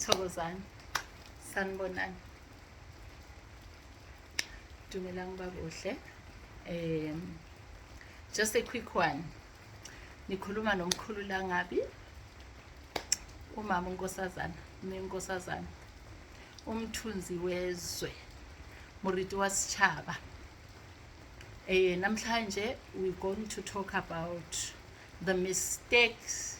thokozani sanibonani dumelang uba kuhle um just a quick one nikhuluma nomkhulu langabi umama unkosazana nenkosazana umthunzi wezwe muriti wasitshaba eh namhlanje we going to talk about the mistakes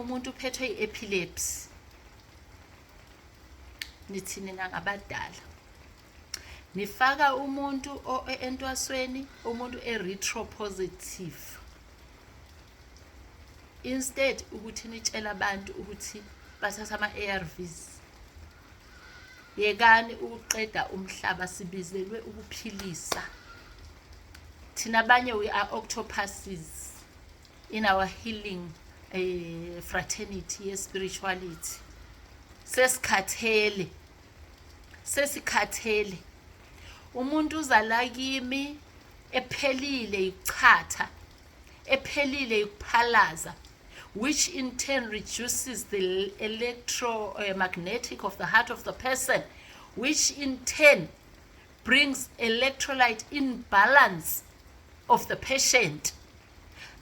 umuntu uphethwe i-epilepsy nithi nina ngabadala nifaka umuntu entwasweni umuntu e-retro positive instead ukuthi nitshela abantu ukuthi bathatha ama-arvs yekani ukuqeda umhlaba sibizelwe ukuphilisa thina abanye we are octopuses in our healing uh, fraternity ye spirituality sesikhathele sesikhathele umuntu uzala kimi ephelile yikuchatha ephelile yikuphalaza which in turn reduces the electromagnetic of the heart of the person which in turn brings electrolyte in balance of the patient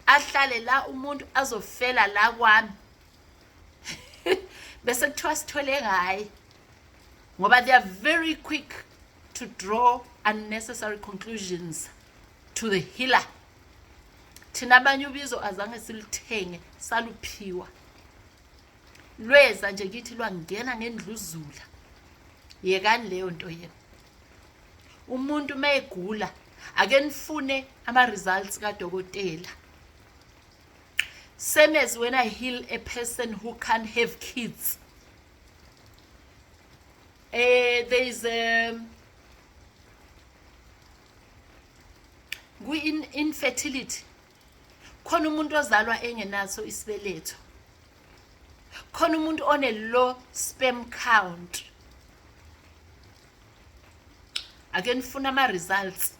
ahlale la umuntu azofela la kwami bese kuthiwa sithole ngaye ngoba they are very quick to draw unnecessary conclusions to the healer thina abanye ubizo azange silithenge saluphiwa lweza nje kithi lwangena ngendluzula yekani leyo nto yena umuntu uma egula ake nifune ama-results kadokotela same as when i heal a person who can't have kids eh there is a kwi-infertility khona umuntu ozalwa engenaso isibeletho khona umuntu one low sperm count ake nifuna ama results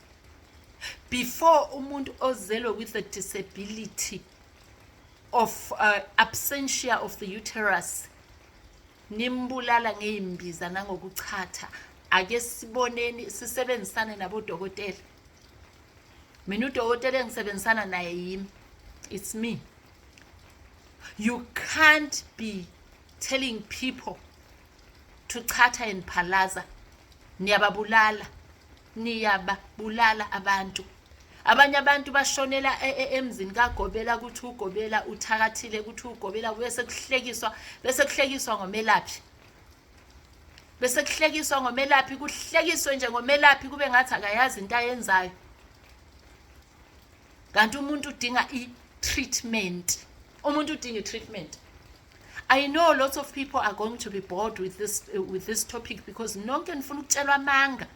before umuntu ozelwe with a disability of uh, absentia of the uterus nimbulala ngeyimbiza nangokuchatha ake siboneni sisebenzisane nabodokotela mina udokotela engisebenzisana naye yimi it's me you can't be telling people to chatha and phalaza niyababulala niyababulala abantu abanye abantu bashonela e, e, emzini kagobela ukuthi ugobela uthakathile ukuthi ugobela bese kuhlekiswa bese kuhlekiswa ngomelaphi bese kuhlekiswa ngomelaphi kuhlekiswe nje ngomelaphi kube ngathi akayazi into ayenzayo kanti umuntu udinga i-treatment umuntu udinga i-treatment I know lots of people are going to be bored with this uh, with this topic because nonke nifuna ukutshelwa amanga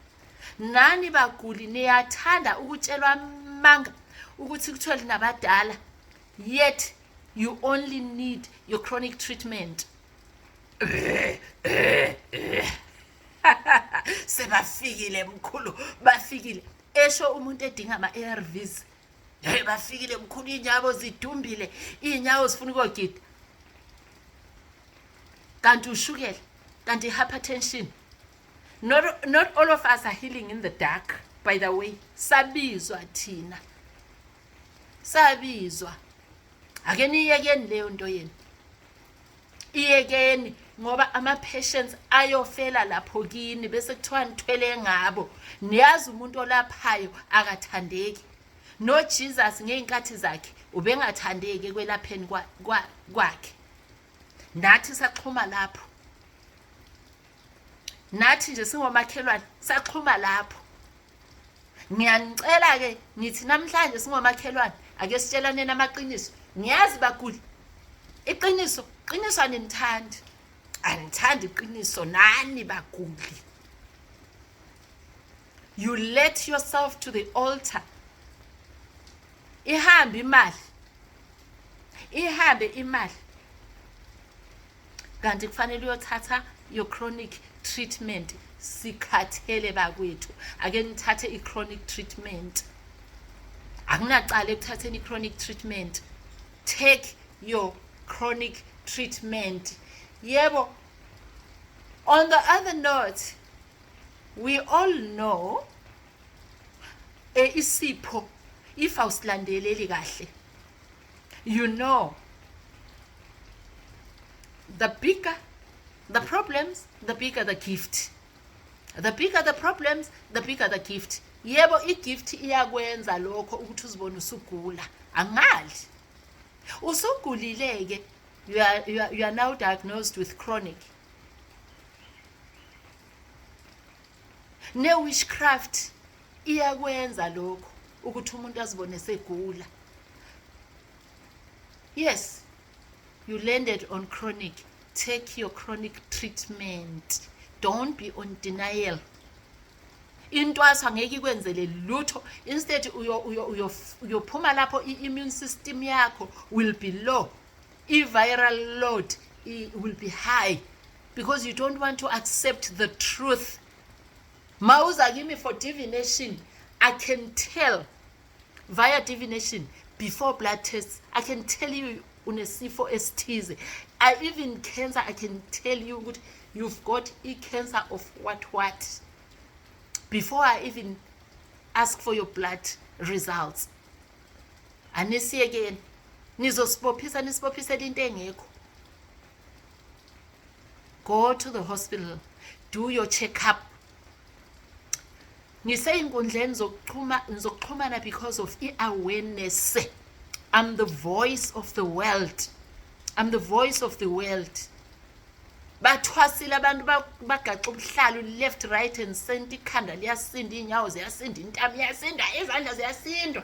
nani baguli niyathanda ukutshelwa amanga ukuthi kuthiwa linabadala yet you only need your chronic treatment sebafikile mkhulu bafikile esho umuntu edinga ama-arvs hey bafikile mkhulu iy'nyawo zidumbile iy'nyawo zifuna ukogida kanti ushukela kanti i-hypertension not, not all of us are healing in the dark by the way sabizwa thina sabizwa ake niyekeni leyo nto yenu iyekeni ngoba ama-patients ayofela lapho kini bese kuthiwa nithwele ngabo niyazi umuntu olaphayo akathandeki nojesus ngey'nkathi zakhe ubengathandeki ekwelapheni kwakhe nathi saxhuma lapho nathi nje singomakhelwane saxhuma lapho ngiyanicela-ke ngithi namhlanje singomakhelwane ake sitshelaneni amaqiniso ngiyazi baguli iqiniso qiniso animthandi anithandi iqiniso nani baguli you let yourself to the altar ihambe imali ihambe imali kanti kufanele uyothatha your chronic treatment sikhathele bakwethu ake nithathe i-chronic treatment akunacala ekuthatheni i-chronic treatment take your chronic treatment yebo on the other note we all know e isipho if awusilandeleli kahle you know the bigger the problems the bigger the gift the bigger the problems the bigger the gift yebo igift iyakwenza lokho ukuthi uzibone usugula angali usugulileke you are, you are, you are now diagnosed with chronic ne-witchcraft iyakwenza lokho ukuthi umuntu azibone segula yes you landed on chronic take your chronic treatment don't be on denial intwaso angeke ikwenzele lutho instead uyophuma lapho i-immune system yakho will be low i-viral load will be high because you don't want to accept the truth ma uza kimi for divination i can tell via divination before blood tests i can tell you unesifo esithize i even cancer i can tell you ukuthi you've got i-cancer of what what before i even ask for your blood results anisiyekeni nizosibophisa nisibophisela into engekho go to the hospital do your check up ngisey'nkundleni zokuxhumana because of i-awareness i'm the voice of the world i'm the voice of the world bathwasile abantu bagaxa ubuhlalu left right and center ikhanda liyasinda iy'nyawo ziyasinda intamo iyasinda izandla ziyasindwa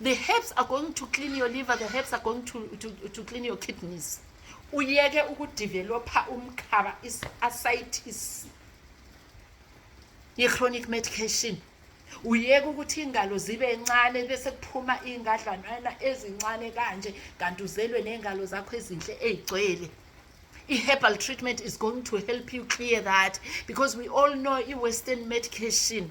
the herbs are going to clean your liver the herbs are going to, to, to clean your kidneys uyeke ukudevelopha umkhaba i-ascitis i-chronic medication uyeke ukuthi iy'ngalo zibe ncane bese kuphuma iy'ngadlanana ezincane kanje kanti uzelwe ney'ngalo zakho ezinhle ey'gcwele i-herbal treatment is going to help you clear that because we all know i-western medication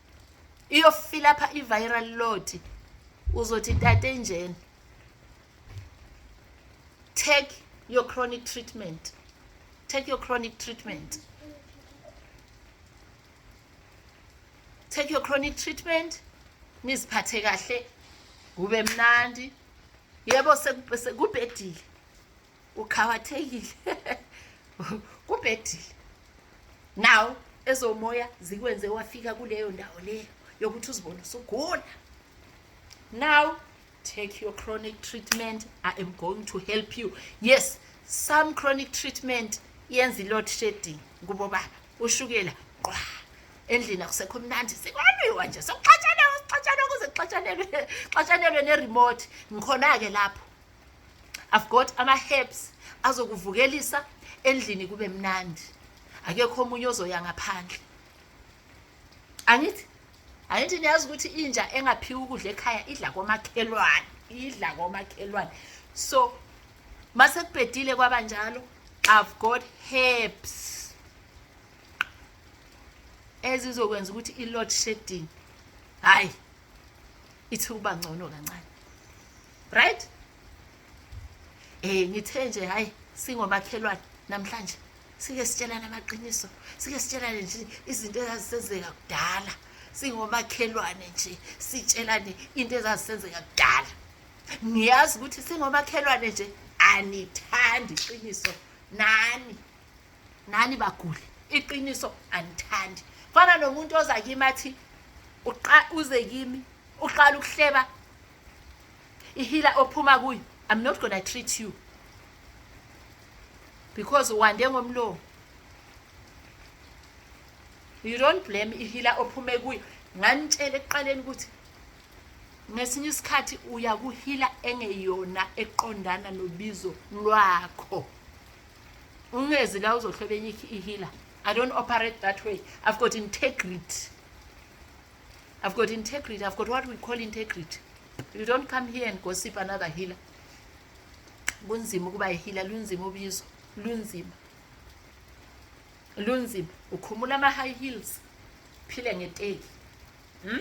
iyofila pha i-viral load uzothi tate enjena take your chronic treatment take your chronic treatment take your chronic treatment niziphathe kahle kube mnandi yebo sekubhedile uqhawathekile kubhedile nawo ezomoya zikwenze wafika kuleyo ndawo leyo yokuthi uzibone usugula now take your chronic treatment i am going to help you yes some chronic treatment yenza i-load shedding kubo baba ushukela qwa endlini akusekho mnandi sikwalwiwa nje sokuxatshanelwa sokuxatshanelwa kuze kuxatshanelwe xatshanelwe ne-remote ngikhona-ke lapho i've got ama-herbs azokuvukelisa endlini kube mnandi akekho omunye ozoya ngaphandle angithi angithi niyazi ukuthi inja engaphiwa ukudla ekhaya idla komakhelwane idla komakhelwane so mase kubhedile kwaba njalo i've got herbs ezizokwenza ukuthi i-load shedding hhayi ithi ukuba ngcono kancane right eh ngithe nje hayi singomakhelwane namhlanje sike sitshelana amaqiniso sike sitshelane nje izinto ezazisenzeka kudala singomakhelwane nje sitshelane into ezazisenzeka kudala ngiyazi ukuthi singomakhelwane nje anithandi iqiniso nani nani baguli iqiniso anithandi fana nomuntu oza kimi athi uze kimi uqala ukuhleba ihila ophuma kuyo i'm not gonna treat you because wande ngomlomo you don't blame ihila ophume kuyo nganitshela ekuqaleni ukuthi ngesinye isikhathi uya kuhila engeyona eqondana nobizo lwakho ungezi la uzohlobenye ihila i don't operate that way i've got integrity I've got integrity. I've got what we call integrity. You don't come here and gossip another healer. Kunzima ukuba ihila lunzima ubizo, lunzima. Lunzima ukhumula ama high heels. Phile ngeteki. Hmm?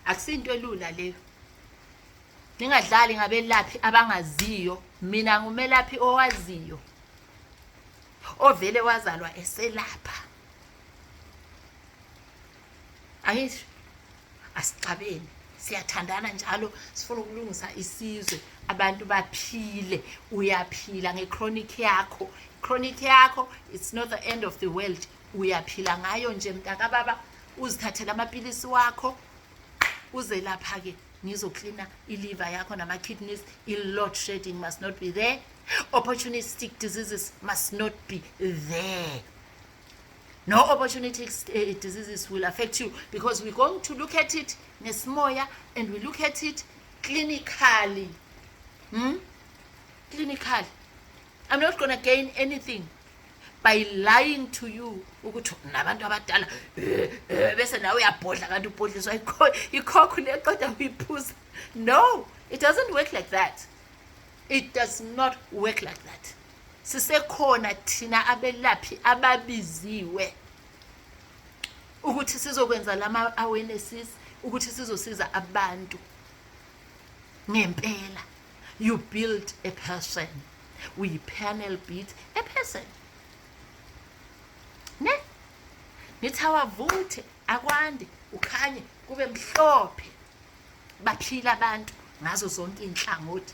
Akusinto elula leyo. Ningadlali ngabelaphi abangaziyo. Mina ngumelaphi owaziyo. Ovele wazalwa eselapha. ayisho asixabeni siyathandana njalo sifuna ukulungisa isizwe abantu baphile uyaphila ngechronic yakho chronic yakho it's not the end of the world uyaphila ngayo nje mntakababa uzithathela amapilisi wakho uzelapha-ke ngizoklina iliva yakho nama-kidneys i-lot shading must not be there opportunistic diseases must not be there no opportunity eh, diseases will affect you because we're going to look at it nesimoya and we look at it clinically hmm? clinically i'm not gonna gain anything by lying to you ukuthi nabantu abadala eh, eh, bese nawe uyabhodla kanti ubhodliswa ikhokho leqeda uyiphuza no it doesn't work like that it does not work like that sisekhona thina abelaphi ababiziwe ukuthi sizokwenza lama awarenesses ukuthi sizosiza abantu ngempela you build a person we panel beat a person ne nithi awavuthe akwande ukhanye kube mhlophe baphila abantu ngazo zonke inhlangothi